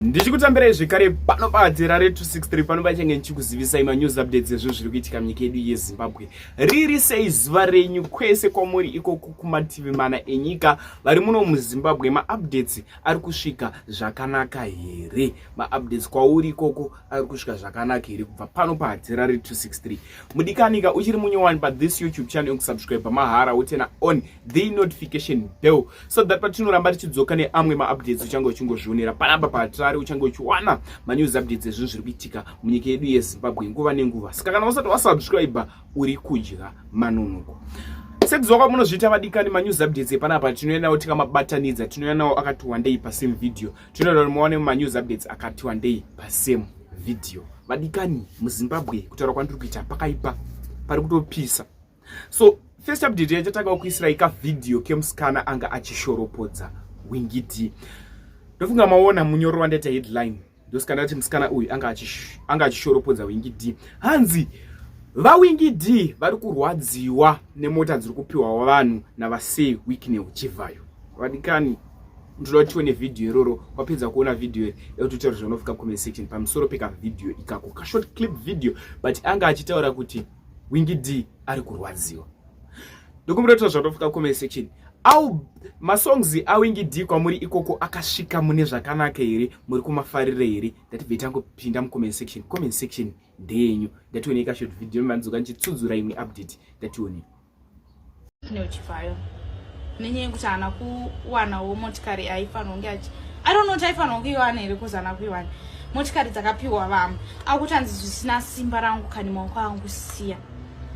ndichikutambirai zvekare pano padzera re263 pano pachange ndichikuzivisai manews updates ezvo zviri kuitika munyika yedu yezimbabwe riri sei zuva renyu kwese kwamuri ikoko kumativi mana enyika vari muno muzimbabwe maupdates ari kusvika zvakanaka here maupdates kwauri ikoko ari kusvika zvakanaka here kubva pano padzera re263 mudikanika uchiri munyowani pathis youtube channel yokusubscribe mahara wotena on the notification bell so that patinoramba tichidzoka neamwe maupdates uchange uchingozvionera panapa pahatirari uchange uchiwana manews updates ezvinhu zviri kuitika munyika yedu yezimbabwe nguva nenguva saka kana usati wasubscribe uri kudya manonogo sekuziva kwamunozviita vadikani manews updates epanapa tinouya nawo tikamabatanidza tinouya nawo akati wandei pasame video tinoda kuti muwane manews updates akati wandei pasame video vadikani muzimbabwe kutaura kwandiri kuita pakaipa pari kutopisa so first update yachatanga kukuisirai kavhidhiyo kemusikana anga achishoropodza wingiti ndofunga maona munyoro wandaita headline ndosikana kuti musikana uyu anga achishoropodza wingi d hanzi vawingi d vari kurwadziwa nemota dziri kupiwa vanhu navasey wikne uchivhayo vadikani ndoda kuti tione vhidhiyo iroro wapedza kuona vhidhiyo iri yekuti utaure zvaunofika comment section pamusoro pekavhidhiyo ikako kashort clip video but anga achitaura kuti Wingi D ari kurwadziwa. Ndokumbira kuti zvatofika comment section. Au masongs awingi D kwamuri ikoko akasvika mune zvakanaka here muri kumafarira here ndatibve tangopinda mucomment section comment section ndeyenyu ndatione ikashot video manzoka ndichitsudzura imwe update ndatione Tine uchivhayo nenyaya yekuti haana kuwanawo motikari yaifanirwa kunge achi i don't know kuti aifanirwa kuiwana here kuzi haana kuiwana motikari dzakapiwa vamwe akuti hanzi zvisina simba rangu kani maoko angu siya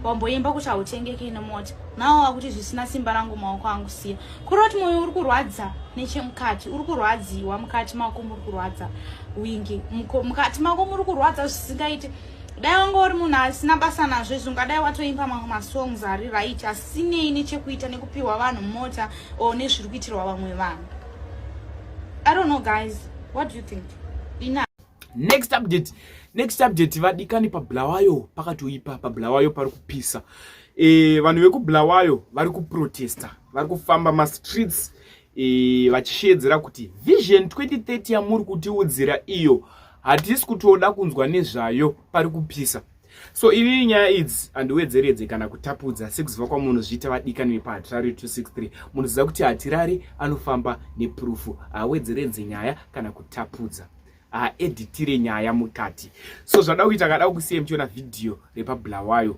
wamboimba kuti hautengeke ine mota nawo akuti zvisina simba rangu maoko angu siya kuroti mwoyo uri kurwadza nechemukati uri kurwadziwa mukati mako muri kurwadza wingi mukati mako muri kurwadza zvisingaiti dai wanga uri munhu asina basa nazvo izvi ungadai watoimba mamwe masongs ari right asinei nechekuita nekupiwa vanhu mota or nezviri kuitirwa vamwe vanhu i don't know guys what do you think ina next update next update vadikani pabulawayo pakatoipa pabulawayo pari kupisa e, vanhu vekubulawayo vari kuprotesta vari kufamba mastreets e, vachisheedzera kuti vision 2030 yamuri kutiudzira iyo hatisi kutoda kunzwa nezvayo pari kupisa so inini nyaya idzi handiwedzeredze kana kutapudza sekuziva kwamunozviita vadikani vepahatirari 263 munoziva kuti hatirari anofamba nepurufu haawedzeredze nyaya kana kutapudza haeditire nyaya mukati so zvada kuita kada kusiya muchiona vhidhiyo repabulawayo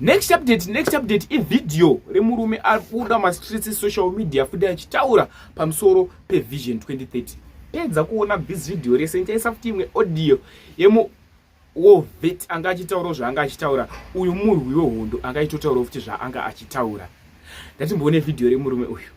next update next update ivideo remurume ari kubuda mastreets esocial media futi achitaura pamusoro pevision 2030 pedza kuona this video rese ndichaisa futi imwe audio yemu wovet anga achitaurawo zvaanga achitaura uyu murwi wehondo anga achitotaurawo futi zvaanga achitaura ndatimboone vhidhiyo remurume uyu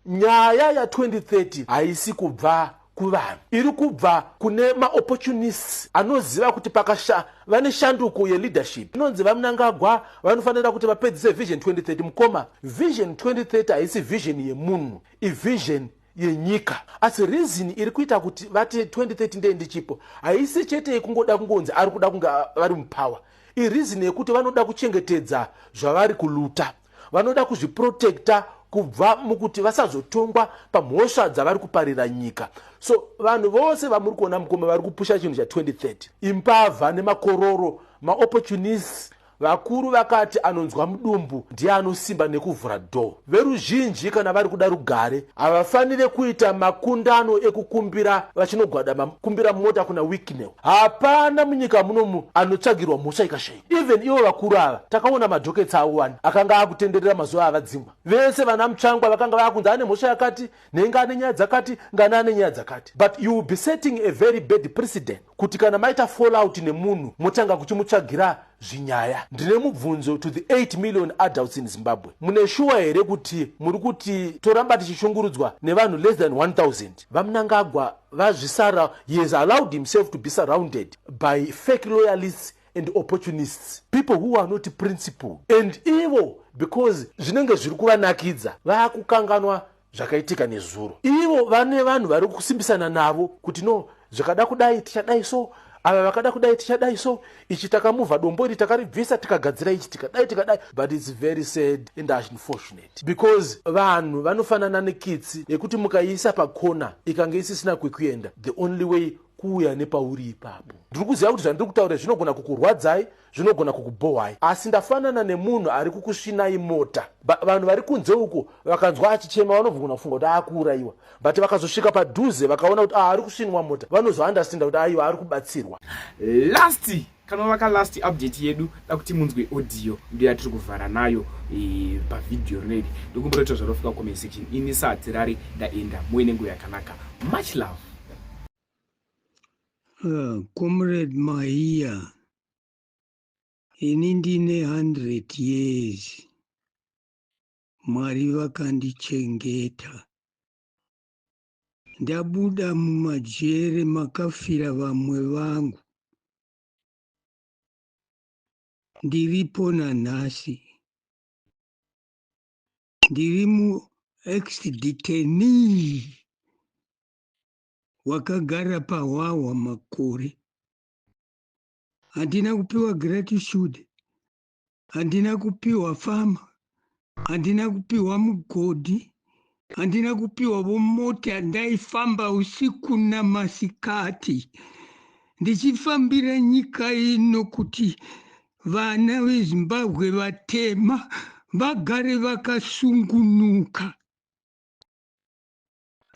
Nyaya ya 2030 haisi kubva kuvanhu iri kubva kune maopportunists anoziva kuti pakasha vane shanduko yeleadership inonzi vamnangagwa vanofanira kuti vapedzise vision 2030 mukoma vision 2030 haisi vision yemunhu ivision yenyika asi reason iri kuita kuti vati 2030 ndee ndichipo haisi chete yekungoda kungonzi ari kuda kunge vari mupower ireason yekuti vanoda kuchengetedza zvavari kuluta vanoda kuzviprotecta kubva mukuti vasazotongwa pamhosva dzavari kuparira nyika so vanhu vose vamuri kuona mukoma vari kupusha chinhu cha 2030 imbavha nemakororo maopportunists vakuru vakati anonzwa mudumbu ndiye anosimba nekuvhura dho veruzhinji kana vari kuda rugare havafanire kuita makundano ekukumbira vachinogwadama kumbira mota kuna wiknew hapana munyika munomu anotsvagirwa mhosva ikashaiwa Even ivo vakuru ava takaona madoketsi avo wani akanga akutenderera mazuva avadzingwa vese vana mutsvangwa vakanga vakunzi ane mhosva yakati nhenga ane nyaya dzakati ngana ane nyaya dzakati but you will be setting a very bad precedent kuti kana maita fall out nemunhu motanga kuchimutsvagira zvinyaya ndine mubvunzo to the 8 million adults in zimbabwe mune shuwa here kuti muri kuti toramba tichishungurudzwa nevanhu less than 1000 vamunangagwa vazvisara he has allowed himself to be surrounded by fake loyalists and opportunists people who are not principled and ivo because zvinenge zviri kuvanakidza vakukanganwa zvakaitika nezuro ivo vane vanhu vari kusimbisana navo kuti no zvikada kudai tichadai so ava vakada kudai tichadai so ichi takamuvha dombo iri takaribvisa tikagadzira ichi tikadai tikadai but its very sad and unfortunate because vanhu vanofanana nekitsi yekuti mukaiisa pakona ikange isisina kwekuenda the only way kuuya nepauri ipapo ndiri kuziva kuti zvandiri kutaura zvinogona kukurwadzai zvinogona kukubhohwai asi ndafanana nemunhu ari kukusvinai mota vanhu vari kunze uko vakanzwa achichema vanobvogona kufunga kuti aakuurayiwa but vakazosvika padhuze vakaona kuti aari ah, kusvinwa mota vanozoandastenda kuti aiwa ari kubatsirwa last Kana waka last update yedu dakuti munzwe audio ndiyo yatiri kuvhara nayo e, pavideo rino iri ndokumbotoita zvarofika comment section ini saa dzirari ndaenda muve nenguva yakanaka much love uh, comrade maiya ini ndine 100 years mwari vakandichengeta Ndabuda mumajere makafira vamwe vangu. Ndiripo nanhasi. Ndiri muexdeteni wakagara pahwahwa makore. Handina kupiwa gratitude handina kupiwa famu handina kupiwa mugodhi handina kupiwa vomota ndaifamba usiku namasikati ndichifambira nyika ino kuti vana vezimbabwe vatema vagare vakasungunuka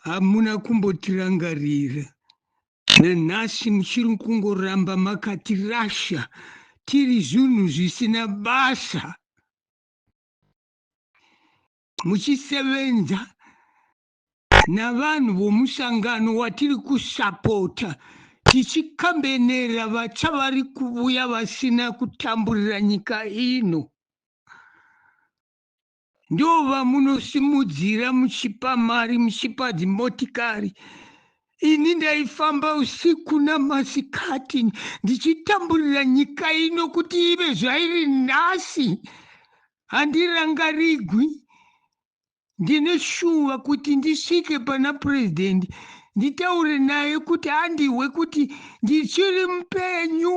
hamuna kumbotirangarira nanhasi muchiri kungoramba makatirasha tiri zvinhu zvisina basa muchisevenza navanhu vomusangano watiri kusapota tichikambenera vatsva vari kuvuya vasina kutamburira nyika ino Ndovamunosimudzira muchipa mari muchipa dzimotikari ini ndaifamba usiku namasikati ndichitamburira nyika ino kuti ive zvairi nhasi handirangarigwi ndine shuva kuti ndisvike pana purezidendi nditaure naye kuti andihwe kuti ndichiri mupenyu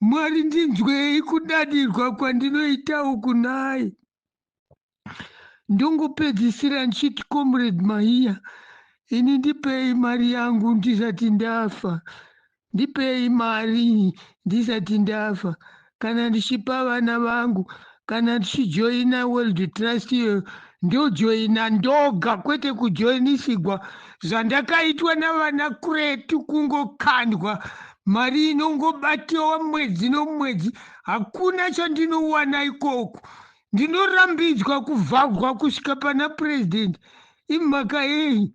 Mwari ndinzwei kudadirwa kwandinoita uku nhai. Ndongopedzisira ndichiti comrade Mahiya ini ndipei mari yangu ndisati ndafa ndipei mari ndisati ndafa kana ndichipa vana vangu kana tichijoina world trust iyoyo ndojoina ndoga kwete kujoinisigwa zvandakaitwa navana kuretu kungokandwa mari inongobatiwa mwedzi nomwedzi hakuna chandinowana ikoku ndinorambidzwa kuvhagwa kusvika pana purezidendi imhaka yei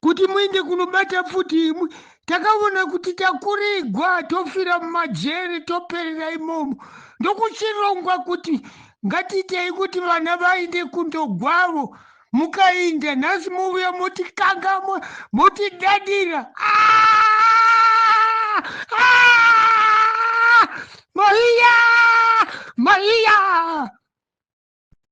kuti muende kunobata pfuti imwe takaona kuti takurigwa tofira mumajeri toperera imomo ndokuchirongwa kuti ngatiitei kuti vana vaende kundogwavo mukainda nhasi movuya motikangamwa motidadira ah! Ah! maiya maiya